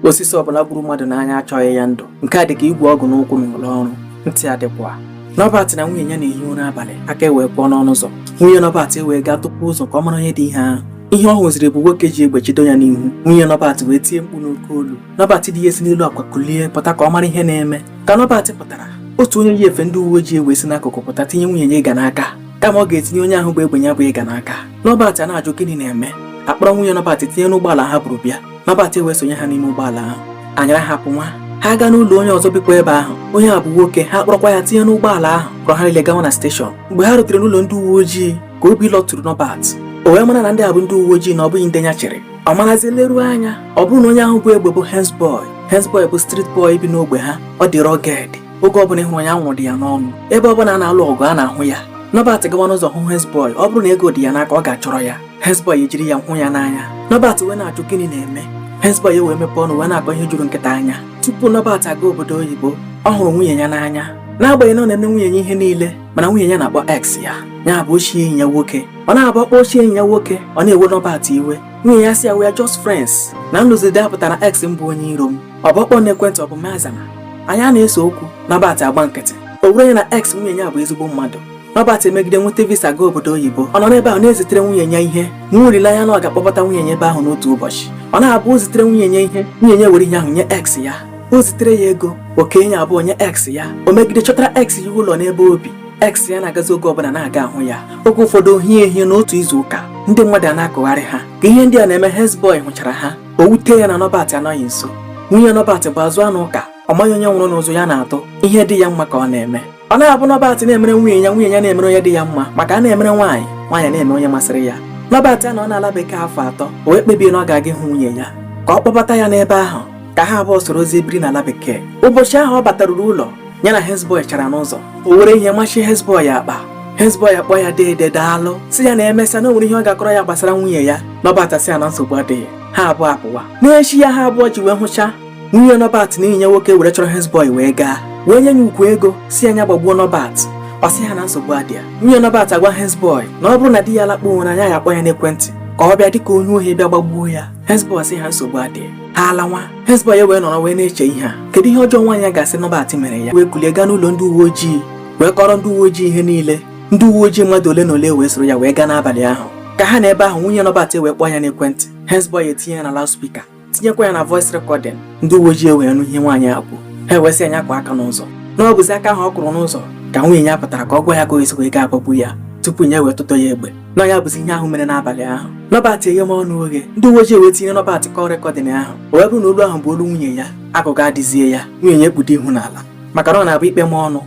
osisi ọbụla gburu mmadụ n'anya achọghị ya ndụ nke a dị ka igwe ọgụ n'ụkwụ na ụlọ ọrụ ntị adịkwa Nọbat na nwunye ya na-ehi ụra abalị aka ewee kụọ n'ọnụ ụzọ nwunye Nọbat ewee gaa tụpụ ụzọ ka ọ mara onye dị ihe ahụ ihe ọ hụziri bụ nwoke ji egbe chido ya n'ihu nwunye Nọbat wee tie mkpu n'oke olu Nọbat di ya esi n'elu akwa kulie pụta ka ọ mara ihe na-eme ka Nọbat pụtara otu onye yi efe ndị uwe ojii ewee si n'akụkụ pụta tinye nwunye ya ịga n'aka kama ọ ga-etinye onye ahụ bu egbe ya bụ ịga n'aka Nọbat ana-ajụ gịnị na-eme a kpọrọ nwunye Nọbat tinye n'ụgbọala ha buru bịa Nọbat wee sonye ha n'ime ụgbọala ahụ a nyara ha pụwa ha gaa n'ụlọ onye ọzọ bikwa ebe ahụ onye a bụ nwoke ha kpọrọkwa ya tinye n'ụgbọala ahụ kpọrọ ha niile gawa na station mgbe ha rutere n'ụlọ ndị uwe ojii ka obi lọtụrụ Nọbat o wee mara na ndị a bụ ndị uwe ojii na ọ bụghị ndị ya chere ọ marazie leruo anya ọ bụrụ na onye ahụ bu egbe bụ hensboy hensboy bụ street boy bi n'ogbe ha ọ dị rugged oge ọbụla ị hụrụ ya anwụrụ dị ya n'ọnụ ebe ọbụla a na-alụ ọgụ a na-ahụ ya Nọbat gawa n'ụzọ hụ hensboy ọ bụrụ na ego dị ya n'aka ọ ga-achọrọ ya Hezbọy ejiri ya hụ ya n'anya Nọbat wee na-ajụ gịnị na-eme Hezbọy wee mepee ọnụ wee na-akọ ihe juru nkịta anya tupu Nọbat aga obodo oyibo ọ hụrụ nwunye ya n'anya n'agbanyeghị na ọ na-enye nwunye ya ihe niile mana nwunye ya na-akpọ ex ya ya bụ ochie enyi ya nwoke ọ na-abụ ọ kpọọ ochie enyi ya nwoke ọ na-ewe Nọbat iwe nwunye ya sị ya we are just friends na m lụzi di a pụtara ex m bụ onye iro m ọ bụ ọ kpọọ n'ekwentị ọ bụ m azana anyị a na-ese okwu Nọbat agba nkịtị o were ya na ex nwunye ya bụ ezigbo mmadụ Nọbat emegide nweta visa gaa obodo oyibo ọ nọ n'ebe ahụ na-ezitere nwunye ya ihe nwee olileanya na ọ ga-akpọbata nwunye ya ebe ahụ n'otu ụbọchị ọ na-abụ o zitere nwunye ya ihe nwunye ya were ihe ahụ nye ex ya o zitere ya ego o kee ya abụọ nye ex ya o megide chọtara ex ya ụlọ n'ebe o bi ex ya na-agazi oge ọbụla na-aga ahụ ya oge ụfọdụ o hie ehie na otu izu ụka ndị mmadụ ana-akọgharị ha ka ihe ndị a na-eme hezboi hụchara ha o wute ya na Nọbat anọghị nso nwunye Nọbat bụ azụ anụ ụka ọ maghị onye nwụrụ n'ụzọ ya na-atụ ihe dị ya mma ka ọ na-eme ọ na-abụ Nọbat na-emere nwunye ya nwunye ya na-emere onye dị ya mma maka a na-emere nwaanyị nwaanyị na-emere onye masịrị ya Nọbat anọọ n'ala bekee afọ atọ o wee kpebie na ọ ga-aga ịhụ nwunye ya ka ọ kpọbata ya n'ebe ahụ ka ha abụọ sorozie biri n'ala bekee ụbọchị ahụ ọ bataruru ụlọ ya na hezbọị hụchara n'ụzọ o were ihe machi hezbọị ya akpa hezbọị akpọọ ya deede daalụ sị ya na e mesịa na o nwere ihe ọ ga-akọrọ ya gbasara nwunye ya Nọbat sị ya na nsogbu adịghị ha abụọ apụwa n'echi ya ha abụọ ji wee hụcha nwunye Nọbat na enyi ya nwoke were chọrọ Hezbọị wee gaa wee nye ya ukwu ego sị ya gbagbuo Nọbat ọ sị ha na nsogbu adịa nwunye Nọbat agwa Hezbọị na ọ bụrụ na di ya lakpuwe na ya ga-akpọ ya n'ekwentị ka ọ bịa dịka onye ohi bịa gbagbuo ya Hezbọị sị ha nsogbu adịa ha alawa Hezbọị wee nọrọ wee na-eche ihe a kedu ihe ọjọọ nwaanyị a ga-asị Nọbat mere ya wee kulie gaa n'ụlọ ndị uwe ojii wee kọrọ ndị uwe ojii ihe niile ndị uwe ojii mmadụ ole na ole wee soro ya wee gaa n'abalị ahụ ka ha nọ ebe ahụ nwunye Nọbat wee kpọọ ya n'ekwentị Hezbọị etinye ya na loudspeaker tinyekwa ya na voice recording ndị uwe ojii ewee nụ ihe nwaanyị a kwuru ha ewee sị ya kụọ aka n'ụzọ na ọ bụzi aka ahụ ọ kụrụ n'ụzọ ka nwunye ya pụtara ka ọ gwa ya ka o esi wee gaa agbagbu ya tupu ya ewee tụtọ ya egbe na ya bụzi ihe ahụ mere n'abalị ahụ Norbert eghebe ọnụ oghe ndị uwe ojii wee tinye Norbert call recording ahụ o wee bụrụ na olu ahụ bụ olu nwunye ya agụgọ adịzie ya nwunye ya ekpudo ihu n'ala maka na ọ na-abụ ikpe ma ọnụ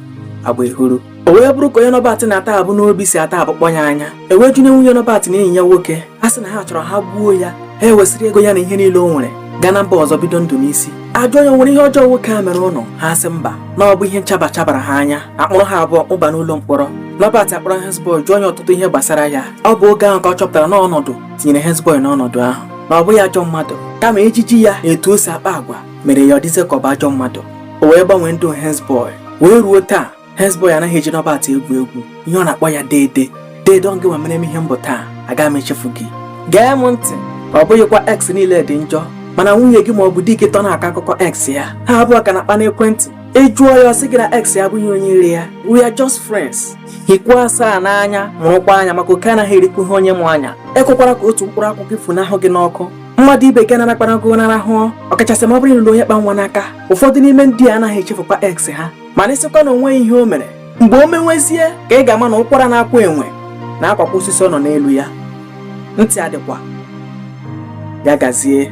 agba ehuru o wee bụrụ ka onye Norbert na-ata abụ n'obi si ata abụ kpọ ya anya e wee jụọ nwunye Norbert na enyi ya nwoke ha sị na ha chọrọ ha gbuo ya ha ewesịrị ego ya na ihe niile o nwere gaa na mba ọzọ bido ndụ n'isi a jụọ ya o nwere ihe ọjọọ nwoke a mere unu ha sị mba na ọ bụ ihe nchaba chabara ha anya a kpụrụ ha abụọ wụba n'ụlọ mkpọrọ Norbert akpọrọ Hezbọy jụọ ya ọtụtụ ihe gbasara ya ọ bụ oge ahụ ka ọ chọpụtara na ọnọdụ tinyere Hezbọy n'ọnọdụ ahụ na ọ bụghị ajọ mmadụ kama ejiji ya na etu o si akpa agwa mere ya ọ dịzie ka ọ bụ ajọ mmadụ o wee gbanwee ndụ Hezbọị wee ruo taa Hezbọị anaghị eji Norbert egwu egwu ihe ọ na-akpọ ya deede deede ọ gịnwa mere m ihe m bụ taa aga m echefu gị gee m ntị ọ bụghịkwa ex niile dị njọ mana nwunye gị ma ọ bụ di gị tọ na-akọ akụkọ ex ya ha abụọ ka na-akpa n'ekwentị ị jụọ ya ọ sị gị na ex ya abụghị onye iro ya we are just friends hiekwa asaa n'anya mụrụkwa anya maka oke anaghị erikwu ihe onye mụ anya ekwekwara ka otu mkpụrụ akwụkwọ ifunahụ gị n'ọkụ mmadụ ibe gị narakpara gụ narahụọ ọkachasị ma ọ bụrụ ị lụrụ onye kpa nwa n'aka ụfọdụ n'ime ndị a anaghị echefukwa ex ha mana ị sịkwa na o nweghị ihe o mere mgbe o menwezie ka ị ga-ama na ụkwara na-akwa enwe na-akwakwa osisi ọ nọ n'elu ya ntị adịkwa ya gazie